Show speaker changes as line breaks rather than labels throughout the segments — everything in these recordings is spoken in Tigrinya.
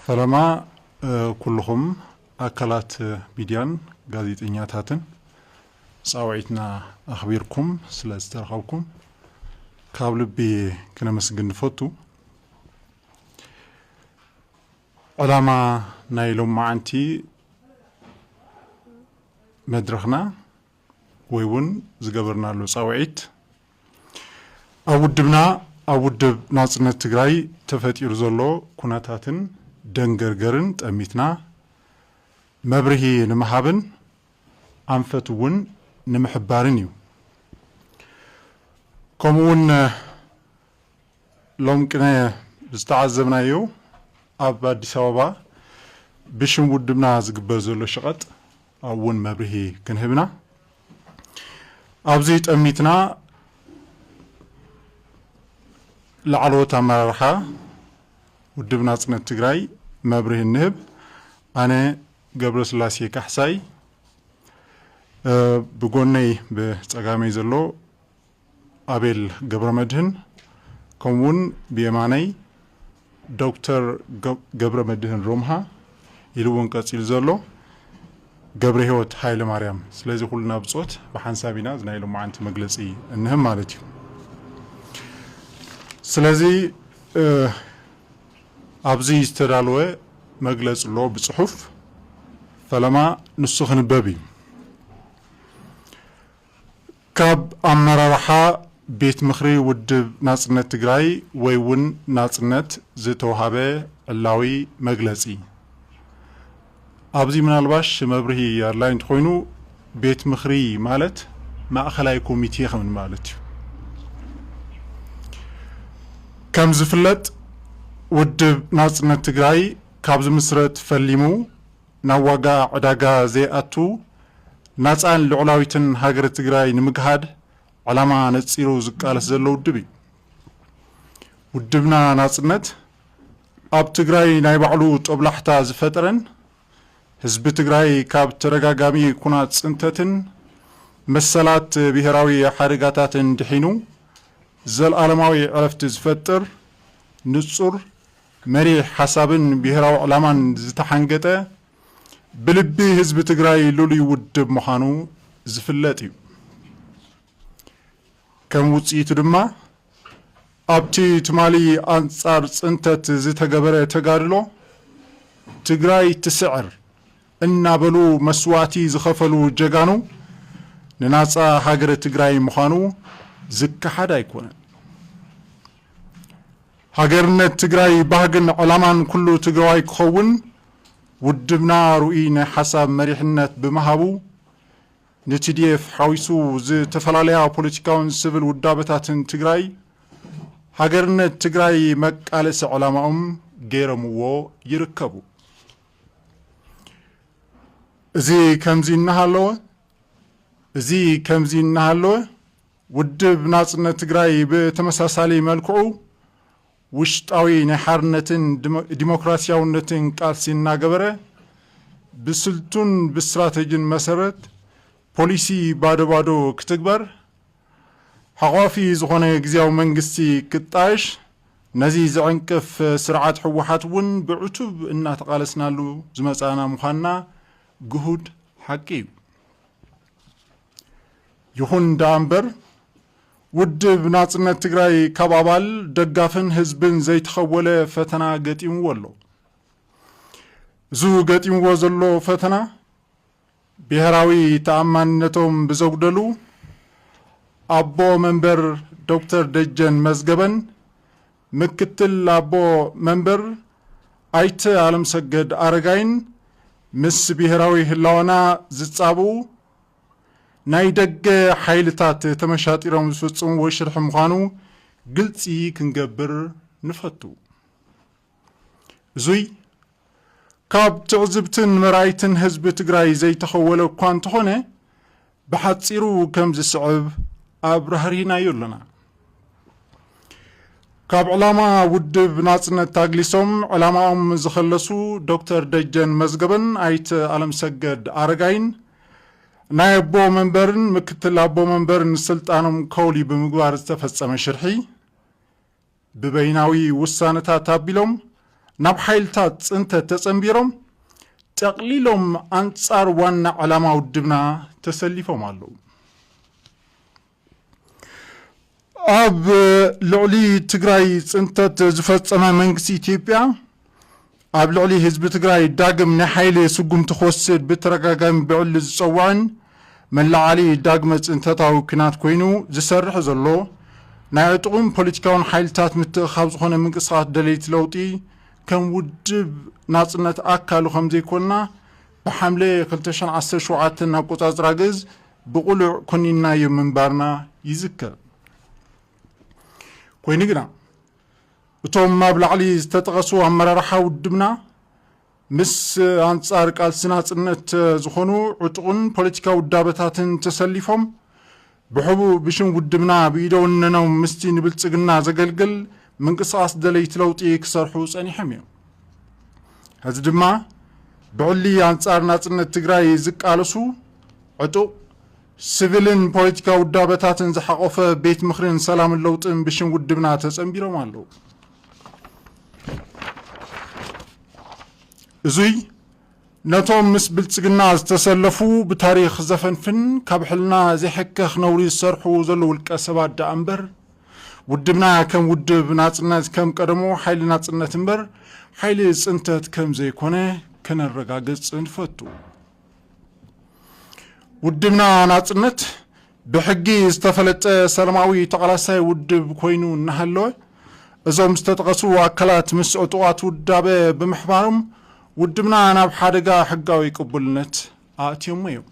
ፈለማ ኩሉኹም ኣካላት ሚድያን ጋዜጠኛታትን ፃውዒትና ኣኽቢርኩም ስለ ዝተረኸብኩም ካብ ልቢ ክነመስግን ንፈቱ። ዕላማ ናይ ሎምዓንቲ መድረኽና ወይ እውን ዝገበርናሉ ፃውዒት ኣብ ውድብና ኣብ ውድብ ናፅነት ትግራይ ተፈጢሩ ዘሎ ኩነታትን ደንገርገርን ጠሚትና መብርሂ ንምሃብን ኣንፈት እውን ንምሕባርን እዩ። ከምኡ እውን ሎም ቅነ ዝተዓዘብናዮ ኣብ ኣዲስ ኣበባ ብሽም ውድብና ዝግበር ዘሎ ሸቐጥ ኣብኡ እውን መብርሂ ክንህብ ኢና። ኣብዚ ጠሚትና ላዕለዎት ኣመራርሓ ውድብ ናፅነት ትግራይ መብርሂ እንህብ ኣነ ገብረስላሴ ካሕሳይ ብጎነይ ብፀጋመይ ዘሎ ኣቤል ገብረመድህን ከምኡ ውን ብየማነይ ዶክተር ገብረመድህን ሮምሃ ኢሉ ውን ቀጺሉ ዘሎ ገብረሂወት ሃይለማርያም ስለዚ ኩልና ብጾት ብሓንሳብ ኢና እዚ ናይ ሎምዓንቲ መግለጺ እንህብ ማለት እዩ ስለዚ ኣብዚ ዝተዳለወ መግለጺ ኣሎ ብጽሑፍ ፈለማ ንሱ ክንበብ እዩ። ካብ ኣመራርሓ ቤት ምኽሪ ውድብ ናፅነት ትግራይ ወይ እውን ናፅነት ዝተውሃበ ዕላዊ መግለፂ። ኣብዚ ምናልባሽ መብርሂ ኣድላይ እንተኾይኑ ቤት ምኽሪ ማለት ማእኸላይ ኮሚቴ ከም ማለት እዩ። ከም ዝፍለጥ ውድብ ናፅነት ትግራይ ካብ ዝምስረት ፈሊሙ፣ ናብ ዋጋ ዕዳጋ ዘይኣቱ ናፃን ልዑላዊትን ሃገረ ትግራይ ንምግሃድ ዕላማ ነፂሩ ዝቃለስ ዘሎ ውድብ እዩ። ውድብና ናፅነት ኣብ ትግራይ ናይ ባዕሉ ጦብላሕታ ዝፈጠረን ህዝቢ ትግራይ ካብ ተደጋጋሚ ኩናት ፅንተትን መሰላት ብሄራዊ ሓደጋታትን ድሒኑ ዘልኣለማዊ ዕረፍቲ ዝፈጥር ንፁር መሪሕ ሓሳብን ብሄራዊ ዕላማን ዝተሓንገጠ ብልቢ ህዝቢ ትግራይ ልሉይ ውድብ ምዃኑ ዝፍለጥ እዩ። ከም ውፅኢቱ ድማ ኣብቲ ትማሊ ኣንፃር ፅንተት ዝተገበረ ተጋድሎ ትግራይ ትስዕር እናበሉ መስዋእቲ ዝኸፈሉ ጀጋኑ ንናፃ ሃገረ ትግራይ ምዃኑ ዝከሓድ ኣይኮነን። ሃገርነት ትግራይ ባህግን ዕላማን ኩሉ ትግራዋይ ክኸውን ውድብና ርኡይ ናይ ሓሳብ መሪሕነት ብምሃቡ ንቲዲኤፍ ሓዊሱ ዝተፈላለያ ፖለቲካውን ስብል ውዳበታትን ትግራይ ሃገርነት ትግራይ መቃለሲ ዕላማኦም ገይረምዎ ይርከቡ። እዚ ከምዚ እናሃለወ እዚ ከምዚ እናሃለወ ውድብ ናጽነት ትግራይ ብተመሳሳሊ መልክዑ ውሽጣዊ ናይ ሓርነትን ዲሞክራሲያውነትን ቃልሲ እናገበረ ብስልቱን ብስትራተጅን መሰረት ፖሊሲ ባዶ ባዶ ክትግበር፣ ሓቋፊ ዝኾነ ግዝያዊ መንግስቲ ክጣየሽ ነዚ ዝዕንቅፍ ስርዓት ህወሓት እውን ብዕቱብ እናተቓለስናሉ ዝመጻእና ምዃንና ግሁድ ሓቂ እዩ። ይኹን ዳኣምበር ውድብ ናጽነት ትግራይ ካብ ኣባል ደጋፍን ህዝብን ዘይተኸወለ ፈተና ገጢምዎ ኣሎ። እዙ ገጢምዎ ዘሎ ፈተና ብሄራዊ ተኣማንነቶም ብዘጉደሉ ኣቦ መንበር ዶክተር ደጀን መዝገበን ምክትል ኣቦ መንበር ኣይተ ኣለምሰገድ ኣረጋይን ምስ ብሄራዊ ህላወና ዝፃብኡ ናይ ደገ ሓይልታት ተመሻጢሮም ዝፍፅምዎ ሽርሒ ምዃኑ ግልፂ ክንገብር ንፈቱ። እዙይ ካብ ትዕዝብትን መራይትን ህዝቢ ትግራይ ዘይተኸወለ እኳ እንተኾነ ብሓፂሩ ከም ዝስዕብ ኣብራህሪህናዮ ኣሎና። ካብ ዕላማ ውድብ ናጽነት ታግሊሶም ዕላማኦም ዝኸለሱ ዶክተር ደጀን መዝገበን ኣይተ ኣለምሰገድ ኣረጋይን ናይ ኣቦ መንበርን ምክትል ኣቦ መንበርን ስልጣኖም ከውሊ ብምግባር ዝተፈጸመ ሽርሒ ብበይናዊ ውሳነታት ኣቢሎም ናብ ሓይልታት ፅንተት ተፀምቢሮም ጠቕሊሎም ኣንፃር ዋና ዕላማ ውድብና ተሰሊፎም ኣለዉ። ኣብ ልዕሊ ትግራይ ፅንተት ዝፈፀመ መንግስቲ ኢትዮጵያ፣ ኣብ ልዕሊ ህዝቢ ትግራይ ዳግም ናይ ሓይሊ ስጉምቲ ክወስድ ብተደጋጋሚ ብዕሊ ዝፀውዐን መላዓሊ ዳግመ ፅንተታዊ ኩናት ኮይኑ ዝሰርሕ ዘሎ ናይ ዕጡቕን ፖለቲካውን ሓይልታት ምትእኻብ ዝኾነ ምንቅስቓስ ደለይቲ ለውጢ ከም ውድብ ናፅነት ኣካሉ ከም ዘይኮንና ብሓምለ 2017 ኣቆፃፅራ ግእዝ ብቑሉዕ ኮኒንናዮ ምንባርና ይዝከር። ኮይኑ ግና እቶም ኣብ ላዕሊ ዝተጠቐሱ ኣመራርሓ ውድብና ምስ ኣንጻር ቃልሲ ናጽነት ዝኾኑ ዕጡቕን ፖለቲካ ውዳበታትን ተሰሊፎም ብሕቡእ ብሽም ውድብና ብኢደወነኖም ምስቲ ንብልጽግና ዘገልግል ምንቅስቓስ ደለይቲ ለውጢ ክሰርሑ ጸኒሖም እዮም። ሕዚ ድማ ብዕሊ ኣንጻር ናጽነት ትግራይ ዝቃለሱ ዕጡቕ ስቪልን ፖለቲካዊ ውዳበታትን ዝሓቖፈ ቤት ምኽርን ሰላምን ለውጥን ብሽም ውድብና ተጸንቢሮም ኣለዉ። እዙይ ነቶም ምስ ብልጽግና ዝተሰለፉ ብታሪኽ ዘፈንፍን ካብ ሕልና ዘይሕከኽ ነውሪ ዝሰርሑ ዘሎ ውልቀ ሰባት ደኣ እምበር ውድብና ከም ውድብ ናጽነት ከም ቀደሙ ሓይሊ ናጽነት እምበር ሓይሊ ጽንተት ከም ዘይኮነ ከነረጋግጽ ንፈቱ። ውድብና ናጽነት ብሕጊ ዝተፈለጠ ሰላማዊ ተቓላሳይ ውድብ ኮይኑ እናሃለወ እዞም ዝተጠቐሱ ኣካላት ምስ ዕጡቓት ውዳበ ብምሕባሮም ውድብና ናብ ሓደጋ ሕጋዊ ቅቡልነት ኣእትዮሞ እዮም።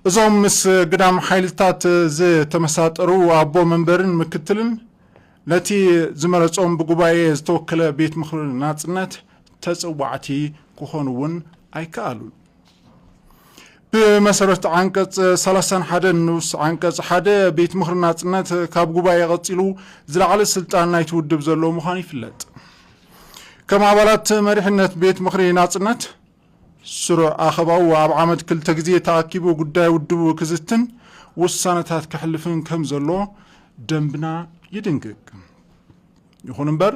እዞም ምስ ግዳም ሓይልታት ዝተመሳጠሩ ኣቦ መንበርን ምክትልን ነቲ ዝመረጾም ብጉባኤ ዝተወከለ ቤት ምኽሪ ናጽነት ተጸዋዕቲ ክኾኑ እውን ኣይከኣሉን። ብመሰረት ዓንቀጽ ሰላሳን ሓደን ንኡስ ዓንቀጽ ሓደ ቤት ምኽሪ ናጽነት ካብ ጉባኤ ቀጺሉ ዝለዓለ ስልጣን ናይቲ ውድብ ዘለዎ ምዃኑ ይፍለጥ። ከም ኣባላት መሪሕነት ቤት ምኽሪ ናጽነት ስሩዕ ኣኸባኡ ኣብ ዓመት ክልተ ግዜ ተኣኪቡ ጉዳይ ውድቡ ክዝትን ውሳነታት ከሕልፍን ከም ዘሎ ደንብና ይድንግግ። ይኹን እምበር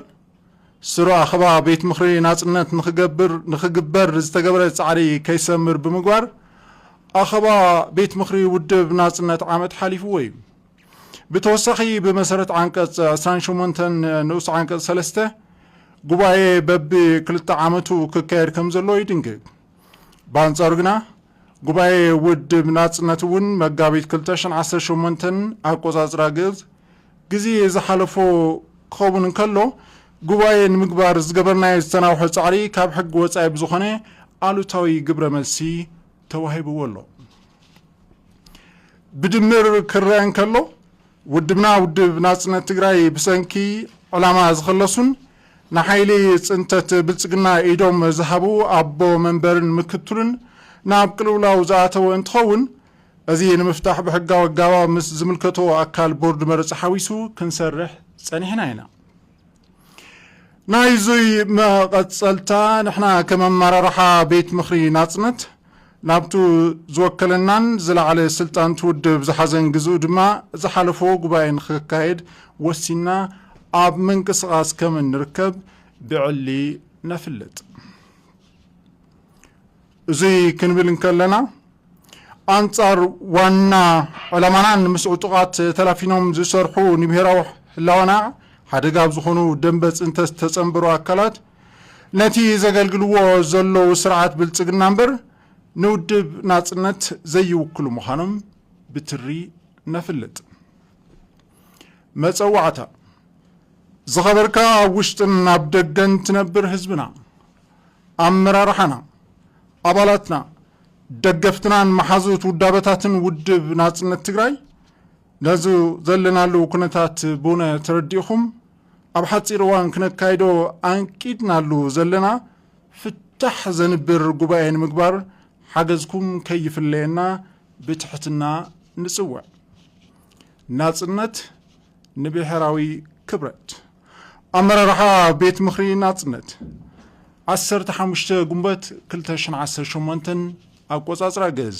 ስሩዕ ኣኸባ ቤት ምኽሪ ናጽነት ንክገብር ንክግበር ዝተገብረ ጻዕሪ ከይሰምር ብምግባር ኣኸባ ቤት ምኽሪ ውድብ ናጽነት ዓመት ሓሊፍዎ እዩ። ብተወሳኺ ብመሰረት ዓንቀፅ ዕስራን ሸሞንተን ንኡስ ዓንቀፅ ሰለስተ ጉባኤ በቢ ክልተ ዓመቱ ክካየድ ከም ዘለዎ ይድንግግ። ብኣንፃሩ ግና ጉባኤ ውድብ ናፅነት እውን መጋቢት ክልተ ሽሕን ዓሰርተ ሸሞንተን ኣቆፃፅራ ግእዝ ግዜ ዝሓለፎ ክኸውን እንከሎ ጉባኤ ንምግባር ዝገበርናዮ ዝተናውሐ ፃዕሪ ካብ ሕጊ ወፃኢ ብዝኾነ ኣሉታዊ ግብረ መልሲ ተዋሂብዎ ኣሎ። ብድምር ክረኣ እንከሎ ውድብና ውድብ ናጽነት ትግራይ ብሰንኪ ዕላማ ዝኸለሱን ንሓይሊ ጽንተት ብልጽግና ኢዶም ዝሃቡ ኣቦ መንበርን ምክትሉን ናብ ቅልውላው ዝኣተወ እንትኸውን እዚ ንምፍታሕ ብሕጋዊ ኣጋባብ ምስ ዝምልከቶ ኣካል ቦርድ መረጻ ሓዊሱ ክንሰርሕ ጸኒሕና ኢና። ናይዙይ መቐጸልታ ንሕና ከም ኣመራርሓ ቤት ምኽሪ ናጽነት ናብቱ ዝወከለናን ዝለዓለ ስልጣን ትውድብ ዝሓዘን ግዝኡ ድማ ዝሓለፎ ጉባኤ ንክካየድ ወሲንና ኣብ ምንቅስቓስ ከም እንርከብ ብዕሊ ነፍልጥ። እዚ ክንብል እንከለና ኣንጻር ዋና ዕላማና ንምስ ዕጡቓት ተላፊኖም ዝሰርሑ ንብሄራዊ ህላወና ሓደጋ ኣብ ዝኾኑ ደንበ ፅንተት ዝተፀንበሩ ኣካላት ነቲ ዘገልግልዎ ዘለዉ ስርዓት ብልፅግና እምበር ንውድብ ናፅነት ዘይውክሉ ምዃኖም ብትሪ ነፍልጥ። መፀዋዕታ ዝኸበርካ ኣብ ውሽጥን ኣብ ደገን ትነብር ህዝብና ኣመራርሓና፣ ኣባላትና፣ ደገፍትናን መሓዙት ውዳበታትን ውድብ ናጽነት ትግራይ ነዚ ዘለናሉ ኩነታት ብውነ ተረዲእኹም ኣብ ሓጺር እዋን ክነካይዶ ኣንቂድናሉ ዘለና ፍታሕ ዘንብር ጉባኤ ንምግባር ሓገዝኩም ከይፍለየና ብትሕትና ንጽውዕ። ናጽነት ንብሔራዊ ክብረት! ኣመራርሓ ቤት ምኽሪ ናፅነት ዓሰርተ ሓሙሽተ ግንቦት ክልተ ሽሕን ዓሰርተ ሸሞንተን ኣቆፃፅራ ግእዝ።